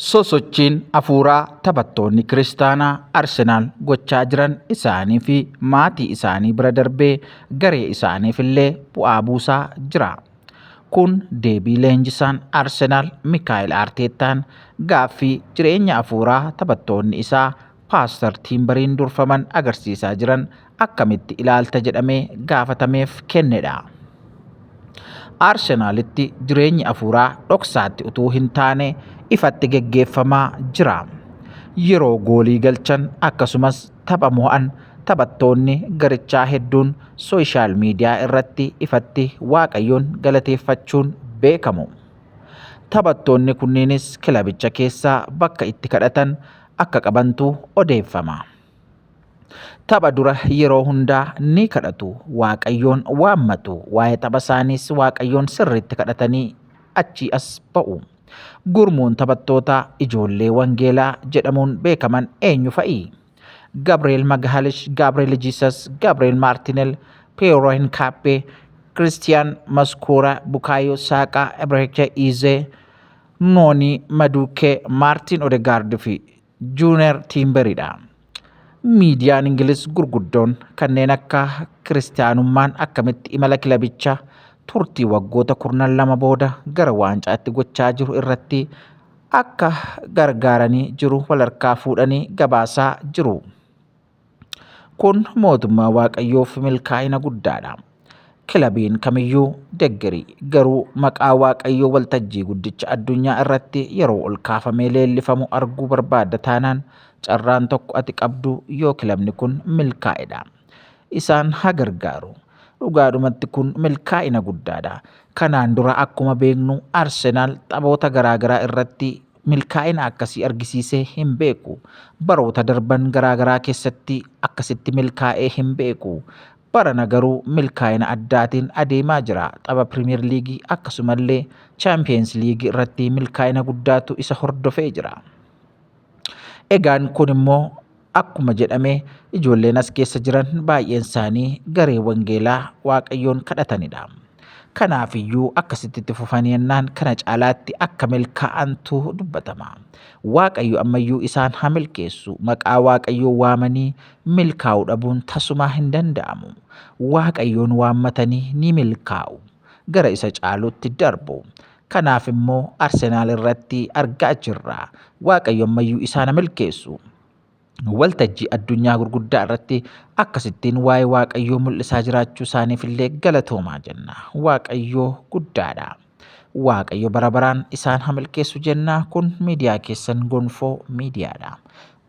Sosochiin hafuuraa taphattoonni kiristaanaa Arsenaal gochaa jiran isaanii fi maatii isaanii bira darbee garee isaaniif illee bu'aa buusaa jira. Kun deebii leenjisaan Arsenaal Mikaa'el Arteettaan gaaffii jireenya hafuuraa taphattoonni isaa Paastar Tiimbariin durfaman agarsiisaa jiran akkamitti ilaalta jedhamee gaafatameef kennedha. Arsenaalitti jireenyi afuuraa dhoksaatti utuu hin taane ifatti geggeeffamaa jira. Yeroo goolii galchan akkasumas tapha mo'an taphattoonni garichaa hedduun sooshaal miidiyaa irratti ifatti Waaqayyoon galateeffachuun beekamu. Taphattoonni kunniinis kilabicha keessaa bakka itti kadhatan akka qabantu odeeffama. Tapha dura yeroo hundaa ni kadhatu, Waaqayyoon waammatu, waa'ee tapha isaaniis Waaqayyoon sirriitti kadhatanii achii as ba'u. Gurmuun taphattootaa ijoollee wangeelaa jedhamuun beekaman eenyu fa'i? Gabriel Maghalish, Gabriel Jesus, Gabriel Martinel, Piero Hincape, Christian Mascura, Bukayo Saka, Ebereche Eze, Nooni Maduukkee, Maartiin Odegaard fi Juuner Tiimberidha. Miidiyaan Ingiliz gurguddoon kanneen akka kiristaanummaan akkamitti imala kilabicha turtii waggoota kurnan lama booda gara waancaatti gochaa jiru irratti akka gargaaranii jiru walharkaa fuudhanii gabaasaa jiru. Kun mootummaa Waaqayyoof milkaa'ina guddaadha. Kilabiin kamiyyuu deggeri garuu maqaa Waaqayyoo waltajjii guddicha addunyaa irratti yeroo ol kaafamee leellifamu arguu barbaadda taanaan carraan tokko ati qabdu yoo kilabni kun milkaa'edha. Isaan haa gargaaru. Dhugaadhumatti kun milkaa'ina guddaadha. Kanaan dura akkuma beeknu Arsenaal taphoota garaagaraa irratti milkaa'ina akkasii argisiisee hin beeku. Baroota darban garaa garaa keessatti akkasitti milkaa'ee hin beeku. Barana garuu milkaa'ina addaatiin adeemaa jira. Tapha Piriimiyeer Liigii akkasumallee Chaampiyeens Liigii irratti milkaa'ina guddaatu isa hordofee jira. Egaan kun immoo Akkuma jedhame ijoolleen as keessa jiran baay'een isaanii garee wangeelaa Waaqayyoon kadhatanidha. Kanaaf iyyuu akkasitti itti fufanii ennaan kana caalaatti akka milkaa'antu dubbatama. Waaqayyo ammayyuu isaan haa milkeessu. Maqaa Waaqayyoo waamanii milkaa'u dhabuun tasumaa hin danda'amu. Waaqayyoon waammatanii ni milkaa'u. Gara isa caalutti darbu. Kanaaf immoo Arsenaal irratti argaa jirra. Waaqayyo ammayyuu isaan haa milkeessu. Waltajjii addunyaa gurguddaa irratti akkasittiin waa'ee Waaqayyoo mul'isaa jiraachuu isaaniif illee galatoomaa jenna. Waaqayyoo guddaadha. Waaqayyo bara baraan isaan haa milkeessu jenna. Kun miidiyaa keessan gonfoo miidiyaadha.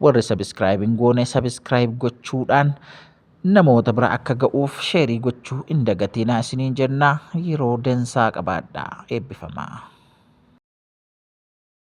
Warri sabiskiraayib hin goone sabiskiraayib gochuudhaan Namoota bira akka ga'uuf sheerii gochuu hin dagatinaa isiniin jenna. Yeroo dansaa qabaadhaa. Eebbifamaa.